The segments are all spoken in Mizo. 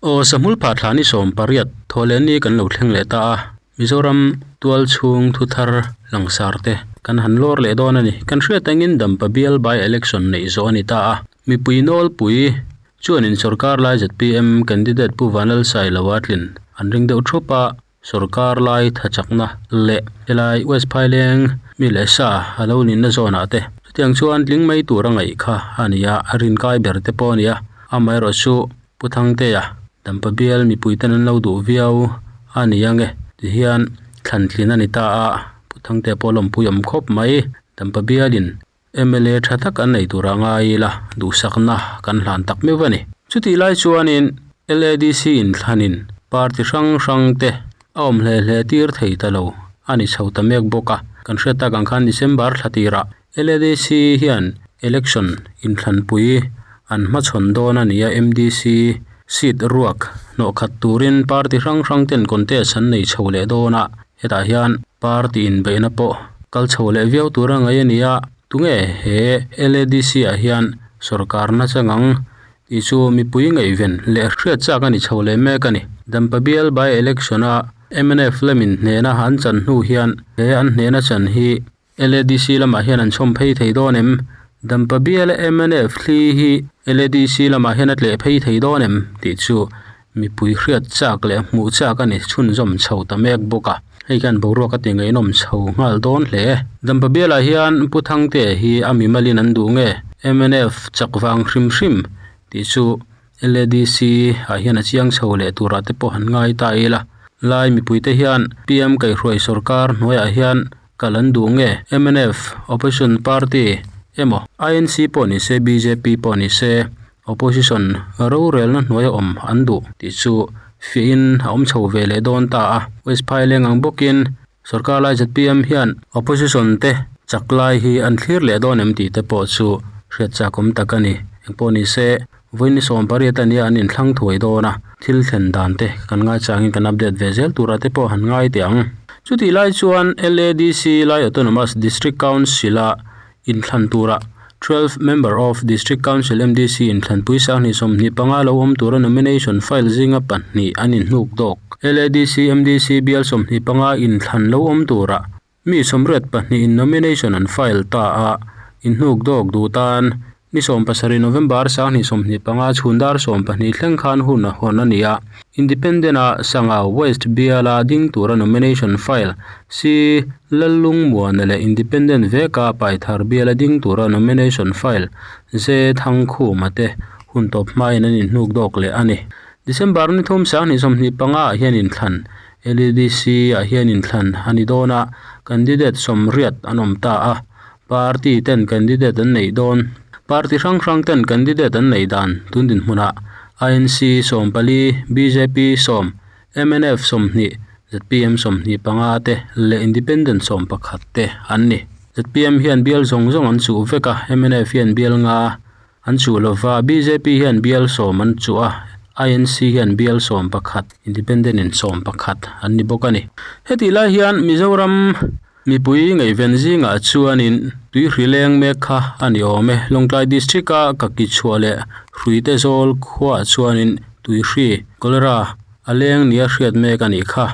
Aw sahmul pha thla ni sawm pariat thawhleh ni kan lo thleng leh ta a Mizoram tual chhung thu thar langsar te kan han lawr leh dawn a ni kan hriat angin dampa bial by election neih zawh a ni ta a mipui nawl pui chuanin sorkar lai zet pm candidate pu Vanlalsaihloa tlin an ring deuh thup a. Sorkar lai thachakna leh helai West Phaileng mi leh sa a lo ninna zawnah te chutiang chuan tling mai tur a ngaih kha a ni a, a rin kai ber te pawh a ni a, amaherawhchu chu Pu Thangteia dampa bial mipui ten an lo duh viau a ni ang e ti hian thlan thlin a ni ta a, Pu Thangteia pawh lawmpui awm khawp mai dampa bialin Mla tha tak an nei tur a ngai ila duhsakna kan hlan tak meuh a ni. Chutih lai chuanin LADC in thlanin party hrang hrang te a awm hle hle tir thei ta lo a ni chho ta mek bawk a. Kan hriat tak ang khan December thla tirah LADC hian election in thlanpui an hmachhawn dawn a ni a, mdc seat ruak hnawhkhat turin party hrang hrang ten contest an nei chho leh dawn a, hetah hian. Party inbeihna pawh kal chho leh viau tur a ngaih a ni a, tunge he LADC ah hian sawrkar nasa ngang tih chu mipui ngaihven leh hriat chak a ni chho leh mek a ni. Dampabial by-election a mnf Fleming hnena an chan hnu hian he an hnena chan hi LADC lamah hian an chhawm phei thei dawn em? Dampabial mnf thli hi LADC lamah hian a tleh phei thei dawn em tih chu Mipui hriat chak leh hmuh chak a ni chhunzawm chho ta mek bawk a, hei khian boruak a tingaihnawm chho nghal dawn hle e. Dampa bialah hian Pu Thangte hi a mimalin an duh nge mnf chak vang hrim hrim tih chu LADC ah hian a chiang chho leh turah te pawh han ngai ta ila, lai mipui te hian PM kaihhruai sawrkar hnuaiah hian kal an duh nge mnf opposition party emaw INC pawh ni se bjp pawh ni se, Opposition rorelna hnuai a awm an duh tih chu fiahin a awm chho ve leh dawn ta a, West Phai leng ang bawkin sorkar lai ztpm hian Opposition te chak lai hi a ni thlir leh dawn em tih te pawh chu hriat chak awm tak a ni. Engpawh ni se Vawini Sawmpariat ania an inthlâng thuai dawn a, thil thlen dan te kan ngaichangin kan update ve zel tura te pawh han ngai teh ang. Chutih lai chuan LADC Lai Autonomous District Council-a inthlan tura twelve member of district council mdc inthlanpui sanghnih sawmhnih panga lo awm tura nomination file zinga pahnih an inhnuk dawk ladc mdc bial sawmhnih panga inthlan lo awm tura mi sawmriat pahnih in nomination an file ta a inhnuk dawk duh tan ni sawm pasarih November sanghnih sawmhnih panga chhun dar sawm pahnih thleng khan hun a hawn a ni a. Independent a Sangau West biala ding tura nomination file si Lalung Muana leh Independent veka Paithar biala ding tura nomination file ze Thangkhuma te hun tawp hmain an in hnuk dawk leh a ni. December ni thum sang hnih sawmhnih panga ah hian in thlan LEDC ah hian in thlan a ni dawn a candidate sawmriat an awm ta a, Party ten candidate an neih dawn. Party hrang hrang ten candidate an neih dan tun dinhmunah INC sawm pali, bjp sawm, mnf sawmhnih, zpm sawmhnih panga te leh independent sawm pakhat te an ni. Zpm hian bial zawng zawng an chuh vek a, mnf hian bial nga an chuh lo va, bjp hian bial sawm an chuh a, INC hian bial sawm pakhat, independent in sawm pakhat an ni bawk a ni. Hetih lai hian Mizoram Mipui ngaihven zingah chuanin tui hri leng mek kha a ni awm e. Lawngtlai District a Kakichhuah leh Hruite Zawl khuaah chuanin tui hri, Cholera, a leng nia hriat mek a nih kha.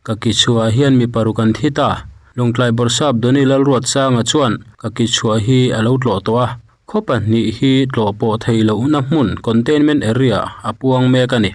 Kakichhuah hian mi paruk an thit a. Lawngtlai Bawrhsap Doni Lalruat Sanga chuan Kakichhuah hi a lo tlawh tawh a. Khaw pahnih hi tlawh pawh thei lohna hmun, containment area, a puang mek a ni.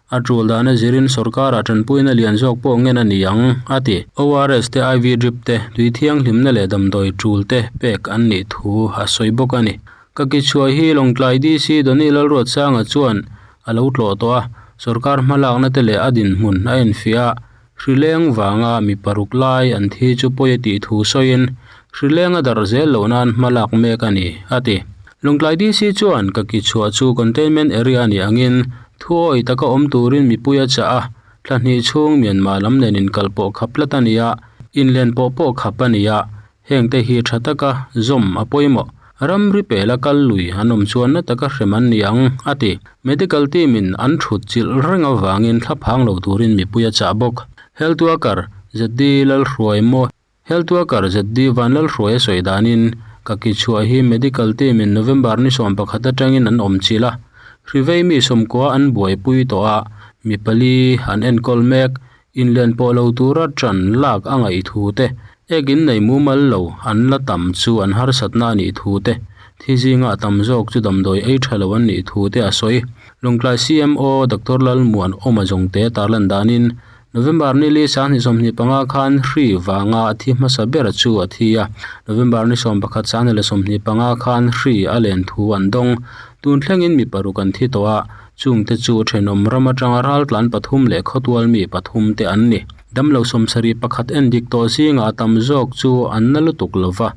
A tul dahna zirin sorkara tanpuina lian zawk pawh ngen a ni ang, a ti. ORS te iv drip te tui thianghlimna leh damdawi tul te pek an nih thu a sawi bawk a ni. Ka kichhuah hi Lawngtlai DC Donny Lalruatsanga chuan a lo tlawh tawh a, sorkar hmalakna te leh a dinhmun a enfiah a, Hrileng vanga mi paruk lai an thi chu pawi a tih thu sawiin hrileng a dar zel loh nan hma lak mek a ni, a ti. Lungtlai DC chuan ka ki chhuah chu containment area a nih angin thu awi taka awm turin mipui a chah a, thlahnih chhung Myanmar lam nen inkal pawh khap tlat a ni a, inlen pawh pawh khap a ni a, Heng te hi tha taka zawm a pawi mawh, ram ri pela kal lui an awm chuan na taka hrem an ni ang, a ti. Medical team in an thut chilh reng avangin thla phang lo turin mipui a chah bawk. Health worker ZD Lalhruai maw Health worker ZD Vanlalhruai a sawi danin, Ka ki chhuah hi medical team in November ni sawm pakhat atangin an awm chilh a. Hrivei mi sawmkua an buaipui tawh a, mi pali an enkawl mek, Inlen pawh lo tura ṭan lak a ngaih thu te, ekin nei mumal lo an la tam chu an harsatna a nih thu te, thi zinga tam zawk chu damdawi ei ṭha lo an nih thu te a sawi. Lungtlai CMO Doctor Lalmuan Awma Zawngte tar lan danin November ni li sang hnih sawmhnih panga khan hri vanga a thi hmasa ber chu a thi a, November ni sawm pakhat sang hnih leh sawmhnih panga khan hri a len thu an dawng. Tun thlengin mi paruk an thi tawh a, Chum te chu thenawm ram atanga raltlan pathum leh khawtual mi pathum te an ni. Damlo sawmsarih pakhat en dik tawh zingah a tam zawk chu an na lutuk lo va,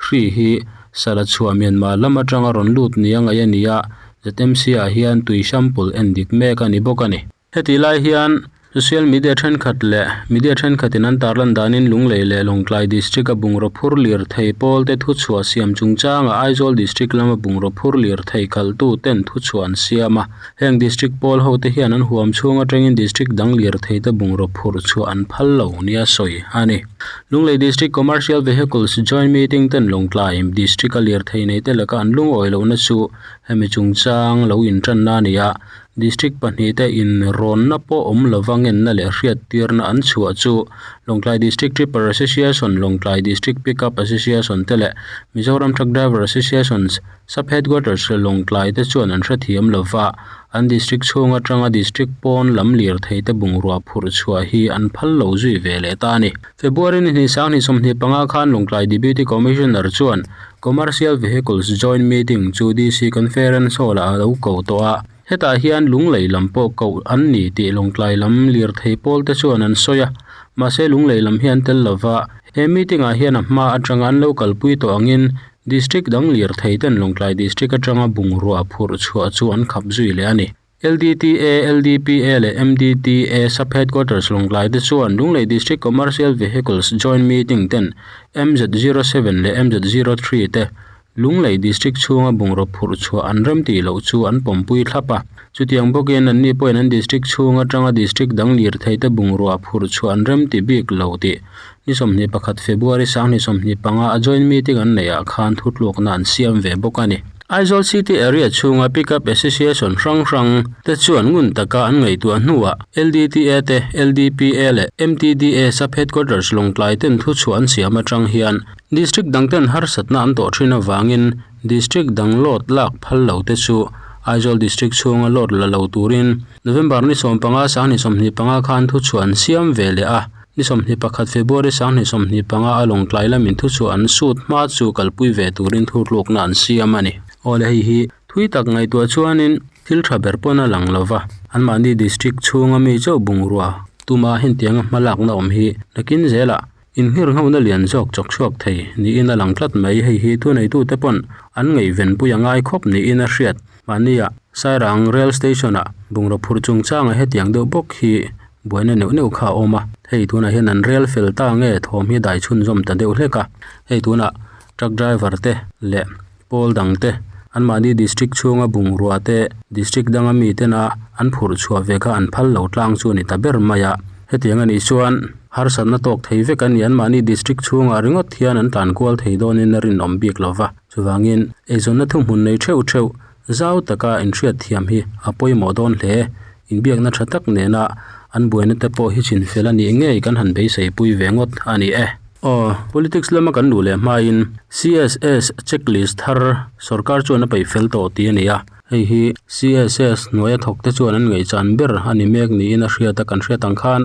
Hri hi Sara chhuah Myanmar lam atanga rawn lut nia ngaih a nia, ZMC-ah hian tuihram pul en dik mek a ni bawk a ni. Heti lai hian Social Media thenkhat leh Media thenkhatin an tar lan danin Lunglei leh Lawngtlai District a bungraw phur lir thei pawl te thu chhuah siam chung changa Aizawl District lama bungraw phur lir thei khalh tu ten thu chhuah an siam a, heng District pawl ho te hian an huam chhung atangin District dang lir thei te bungraw phur chhuah an phal lo nia sawi a ni. Lunglei District Commercial Vehicles Joint Meeting ten Lawngtlai District a lir thei nei te laka an lungawi lohna chu hemi chung chang lo in tan na a ni a, District pahnih te in rawnna pawh awm lo va ngenna leh hriat tirna an chhuah chu Lawngtlai District Tripper Association, Lawngtlai District Pick Up Association te leh Mizoram Truck Driver Associations Sub Headquarters Lawngtlai te chuan an hrethiam lo va, an District chhung atanga District pawn lam lirthei te bungrua phurh chhuah hi an phal lo zui ve leh ta a ni. February ni hnih sang hnih sawmhnih panga khan Lungtlai Deputy Commissioner chuan Commercial Vehicles Joint Meeting chu DC Conference Hall ah a lo ko tawh a, hetah hian Lunglei lam pawh ko an ni tih Lungtlai lam lirthei pawl te chuan an sawi a, mahse Lunglei lam hi an tel lo va, he meeting ah hian a hma atanga an lo kalpui tawh angin District dang lirthei ten Lungtlai District atanga bungrua phurh chhuah chu an khap zui leh a ni. LDTA, LDPA leh MDTA sub headquarters Lunglai te chuan Lunglei District Commercial Vehicles Joint Meeting ten MZ zero seven leh MZ zero three te Lunglei District chhunga bungraw phurh chhuah an rem tih loh chu an pawmpui thlap a. Chutiang bawkin an ni pawhin an District chhung atanga District dang lirthei te bungrua phurh chhuah an rem ti bik lo tih ni sawmhnih pakhat February sanghnih sawmhnih panga a Joint Meeting an neih ah khan thutlukna an siam ve bawk a ni. Aizawl City Area chhunga Pickup Association hrang hrang te chuan ngun taka an ngaihtuah hnuah LDTA te, LDPA leh MTDA Sub Headquarters Lawngtlai ten thuchhuah an siam atang hian District dang ten harsatna an tawh thin avangin District dang load lak phal lo te chu Aizawl District chhunga load la lo turin November ni sawm panga, Sang ni sawmhnih panga khan thuchhuah an siam ve leh a. Ni sawmhnih pakhat February sanghnih sawmhnih panga a lawngtlai la min thu chu an suit hma chu kalpui ve turin thurhlukna an siam a ni. Aw le hei hi thui tak ngaihtuah chuanin thil tha ber pawn a lang lo va, anmahni district chhunga mi chauh bungrua tuma hentianga hmalakna awm hi nakin zela inhngerhnghona lian zawk chawk chhuak thei niin a lang tlat mai. Hei hi thuneitute pawn an ngaivenpui a ngai khawp niin a hriat Mahnia Sairang Rail Station ah bungraw phur chung changa hetiang deuh bawk hi buaina neuh neuh kha a awm a, hei tunah hian an rail fel ta nge thawm hi dai chhunzawm ta deuh hlek a, hei tunah truck driver te leh pawl dang te an mahni district chhunga bungrua te district danga mi tena an phurh chhuah ve kha an phal lo tlang chu a ni ta ber mai a, hetiang a nih chuan harsatna tawk thei vek an ni, an mahni district chhungah ringawt hian an tlankual thei dawnin a rinawm bik lo va. Chuvangin, eizawnna thuhmun nei theuh theuh zau taka inhriat thiam hi a pawimawh dawn hle. Inbiakna tha tak nena an buaina te pawh hi chinfel a nih ngei kan han beiseipui ve ngawt a ni e. Aw, politics lama kan duh leh hmain CSS checklist thar sorkar chuan a peih fel tawh tih a ni a. Hei hi CSS hnuaia thawkte chuan an ngaihchan ber a ni mek niin a hriat a, kan hriat ang khan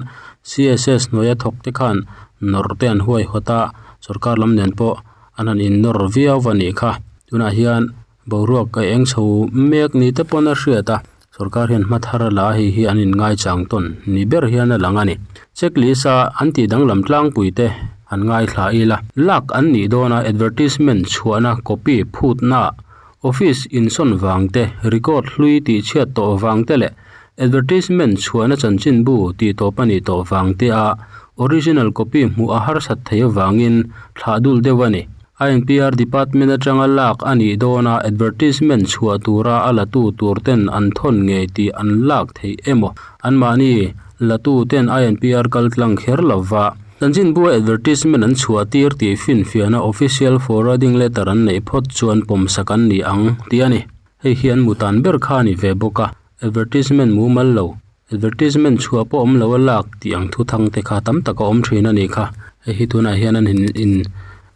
CSS hnuaia thawkte khan nawrte an huaihawt a, sorkar lam nen pawh. an han innawr viau va nih kha tunah hian boruak a eng chho mek ni te pawn a hriat a sorkar hian hmathar a la a hei hi an in ngaichang tawn ni ber hian a lang a ni checklist a an tih danglam tlangpui te han ngaithla ila lak an nih dawn a advertisement chhuahna copy phutna-- Office insawn vang te, record hlui tih chhiat tawh vang te leh advertisement chhuahna chanchin bu tih tawp a nih tawh vang te a original copy hmuh a harsat thei avangin thlah dul deuh a ni. INPR Department atanga lak a nih dawna advertisement chhuah tura a latu tur ten an thawn ngei tih an lak theih emaw? Anmahni latu ten INPR kal tlang kher lova. Chanchinbua advertisement an chhuah tir tih finfiahna official forwarding letter an neih phawt chuan pawmsa kan ni ang ti a ni. Hei hian mutan ber kha a ni ve bawk a, advertisement mumal lo, advertisement chhuah pawh awm lo a lak tih ang thu thang te kha tam tak a awm thin a ni kha. Hei hi tunah hian an in in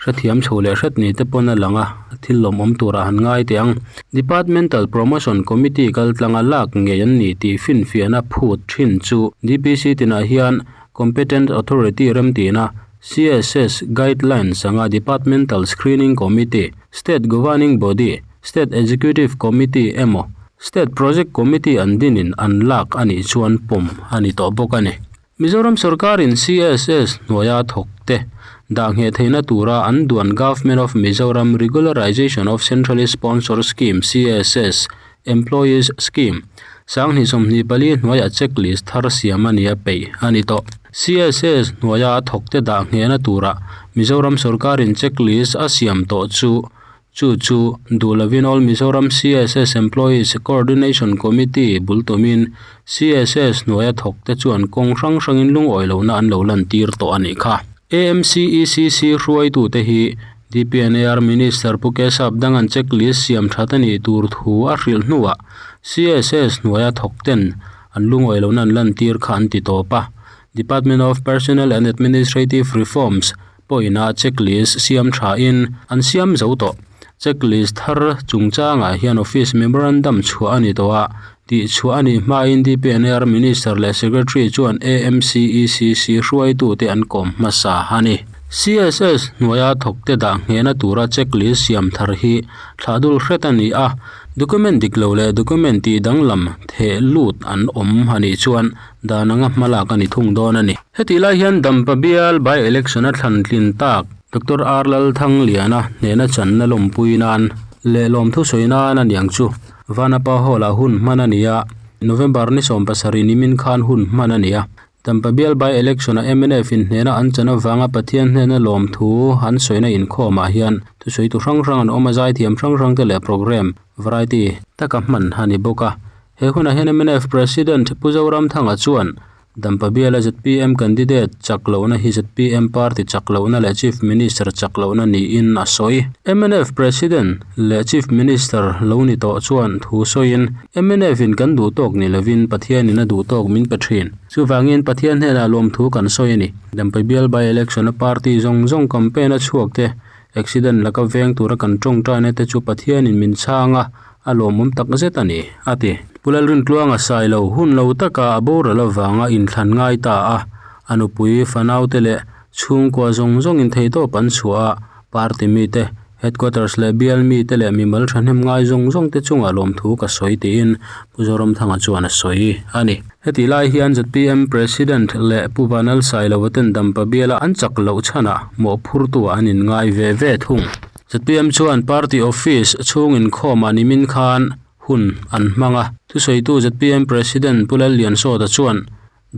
hrethiam chho leh hret ni te pawn a lang a, thil lawm awm tur ah han ngai teh ang. Departmental Promotion Committee kaltlanga lak ngei an ni tih finfiahna phut thin chu DPC tinah hian Competent Authority remtihna, CSS guidelines anga Departmental Screening Committee, State Governing Body, State Executive Committee emaw State Project Committee an dinin an lak a nih chuan pawm a ni tawh bawk a ni. Mizoram sawrkarin CSS hnuaia thawkte dah ngheh theihna tura an duan Government of Mizoram Regularisation of Centrally Sponsored Scheme, CSS, Employees Scheme, Sanghnih sawmhnih pali hnuaia check list thar siam a nia peih a ni tawh. CSS hnuaia thawkte dah nghehna tura Mizoram sawrkarin check list a siam tawh chu chu chu duh lovin All Mizoram CSS Employees Coordination Committee bul tumin CSS hnuaia thawkte chuan kawng hrang hrangin lungawi lohna an lo lantir tawh a nih kha. AMCECC hruaitute hi DPNAR Minister Pu Keshap Dangan checklist siam that a nih tur thu a hrilh hnuah CSS hnuaia thawkten an lu ngawih lohna an lantir kha an ti tawp a. Department of Personnel and Administrative Reforms pawhina checklist siam thain an siam zo tawh. Checklist thar chungchangah hian office memorandum chhuah a ni tawh a, Tih chhuah a nih hma Indepneer Minister leh Secretary chuan AMCECC hruaitute an kawm hmasa a ni. CSS hnuaia thawkte dah nghehna tura checklist siam thar hi thlah dul hret a ni a, document dik lo leh document tih danglam theh lut an awm a nih chuan dan anga hmalak a ni thung dawn a ni. Hetih lai hian Dampa Bial by-election a thlan tlin tak Doctor Arlalthangliana hnena channa lawmpui nan leh lawmthu sawi nan aniang chu Vanapa Hall ah hun hman a ni a, November ni sawm pasarih nimin khan hun hman a ni a. Dampa Bial by-election ah mnf inhnehna an chan avanga Pathian hnena lawm thu an sawina inkhawmah hian thusawitu hrang hrang an awm a, zaithiam hrang hrang te leh programme variety taka hman a ni bawk a. He hunah hian mnf President Pu Zoramthanga chuan Dampa biala zpm candidate chak lohna hi zpm party chak lohna leh chief minister chak lohna niin a sawi. Mnf president leh chief minister lo ni tawh chuan thu sawiin mnf in kan duh tawk ni lovin Pathian in a duh tawk min pe thin. Chuvangin Pathian hnenah lawmthu kan sawi a ni. Dampa bial by-election-a party zawng zawng campaign-a chhuak te Accident la ka veng tura kan tawngtaina te chu Pathianin min chhang a, a lawmawm tak zet a ni, a ti. Pu Lalrintluanga sai lo hun lo taka a boral avanga inthlan ngai ta a, a nupui, fanaute leh chhungkua zawng zawngin theitawp an chhuah a, party mite, headquarters leh bial mite leh mimal thahnem ngai zawng zawng te chungah lawmthu ka sawi tiin Pu Zoramthanga chuan a sawi a ni. Hetih lai hian zpm President leh Pu Vanal Sailoa ten dampa biala an chak loh chhana mawhphurtu ah an in ngai ve ve thung. Zpm chuan party office chhung inkhawm ah nimin khan hun an hmang a. Thusawitu zpm President Pu Lalliansawta chuan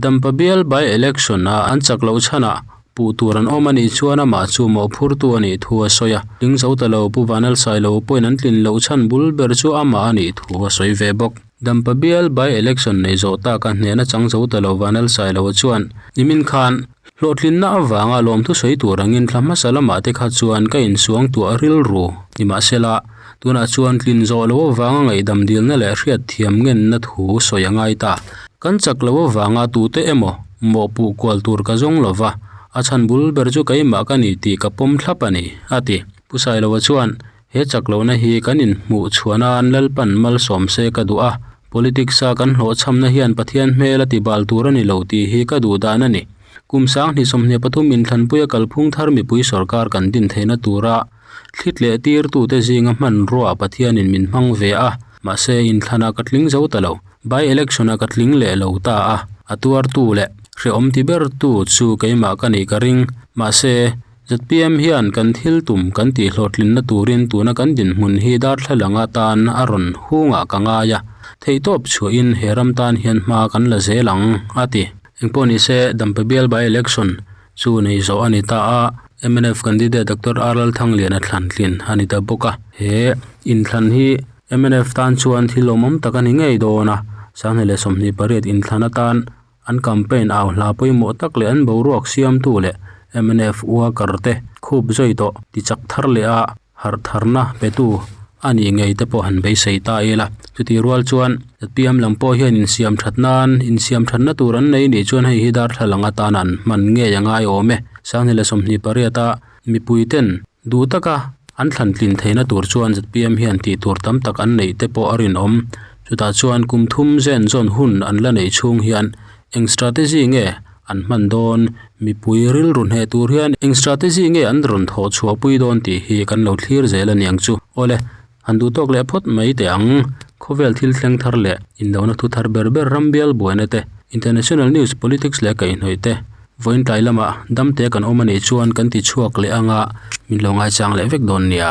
dampa bial by election ah an chak loh chhana puh tur an awm a nih chuan amah chu mawhphurtu a nih thu a sawi a. Ling Zotalo Pu Vanal Sailoa pawhin an tlin loh chhan bul ber chu amah a nih thu a sawi ve bawk. Dampa bial by-election nei zawh ta ka hnehna chang zo ta lo vân Lalsai lo chuan i min khân hlawhtlinna avânga lâwmthu sawi tur angin thla hmasa lama te kha chuan ka insuang tuah rilru ni mah se la, tunah chuan tlin zawh lo avânga ngaihdam dilna leh hriatthiam ngenna thu sawi a ngai ta. Kan chak lo avânga tute emaw mawhpuh kual tur ka zawng lo va, a chhan bul ber chu keimah ka ni tih ka pawm thlap a ni, a ti. Pu Sailo chuan. He chak lohna hi kan inhmuh chhuah nan Lalpan malsawm se ka duh a, politics a kan hlawh chhamna hian Pathian hmel a ti bal tur a ni lo tih hi ka duh dan a ni. Kum Sang hnih sawmhnih pathum Inthlanpuia kalphung thar mipui sorkar kan din theihna tura thlit leh tir tute zinga hmanruaa Pathianin min hmang ve a, mahse Inthlan ah ka tling zo ta lo, by election ah ka tling leh lo ta a, a tuar tu leh hre awm ti ber tu chu keimah ka nih ka ring, mahse. Zpm hian kan thil tum kan tih hlawhtlinna turin tuna kan dinhmun hi darthlalâng atan a rawn hungah ka ngai a, theihtawp chhuahin he ram tan hian hma kan la zel ang, a ti. Engpawh ni se, dampe bial by-election chu nei zawh a ni ta a, mnf candidate Doctor R Lalthangliana thlan tlin a ni ta bawk a. He inthlan hi mnf tan chuan thil awmawm tak a ni ngei dawn a, sanghnih leh sawmhnih pariat inthlan atan, An campaign au hla pawimawh tak leh an boruak siamtu leh mnf uakar te khup zawih tawh ti chak thar leh a harh tharna petu a nih ngei te pawh han beisei ta i la. Chutih rual chuan Zatpiam lam pawh hian insiam that nan insiam thatna tur an nei nih chuan hei hi darthlalang atana an hman ngei a ngai awm e. Sang ni leh sawmhnih pariata. Mipui ten duh taka an thlan tlin theihna tur chuan zpm hian tih tur tam tak an neih te pawh a rinawm. Chutah chuan kum thum zen zawn hun an la neih chhung hian eng strategy nge an hman dawn? Mipui rilru hneh tur hian eng strategy nge an rawn thawh chhuah pui dawn tih hi kan lo thlir zel a niang chu. Awle Han duh tawk leh phawt mai teh ang. Khawvel thil thleng thar leh inlohna thu thar ber ber ram bial buaina te, international news, politics leh kaihhnawih te, vawiin tlai lamah damte kan awm a nih chuan kan tichhuak leh anga min lo ngaichang leh vek dawn nia.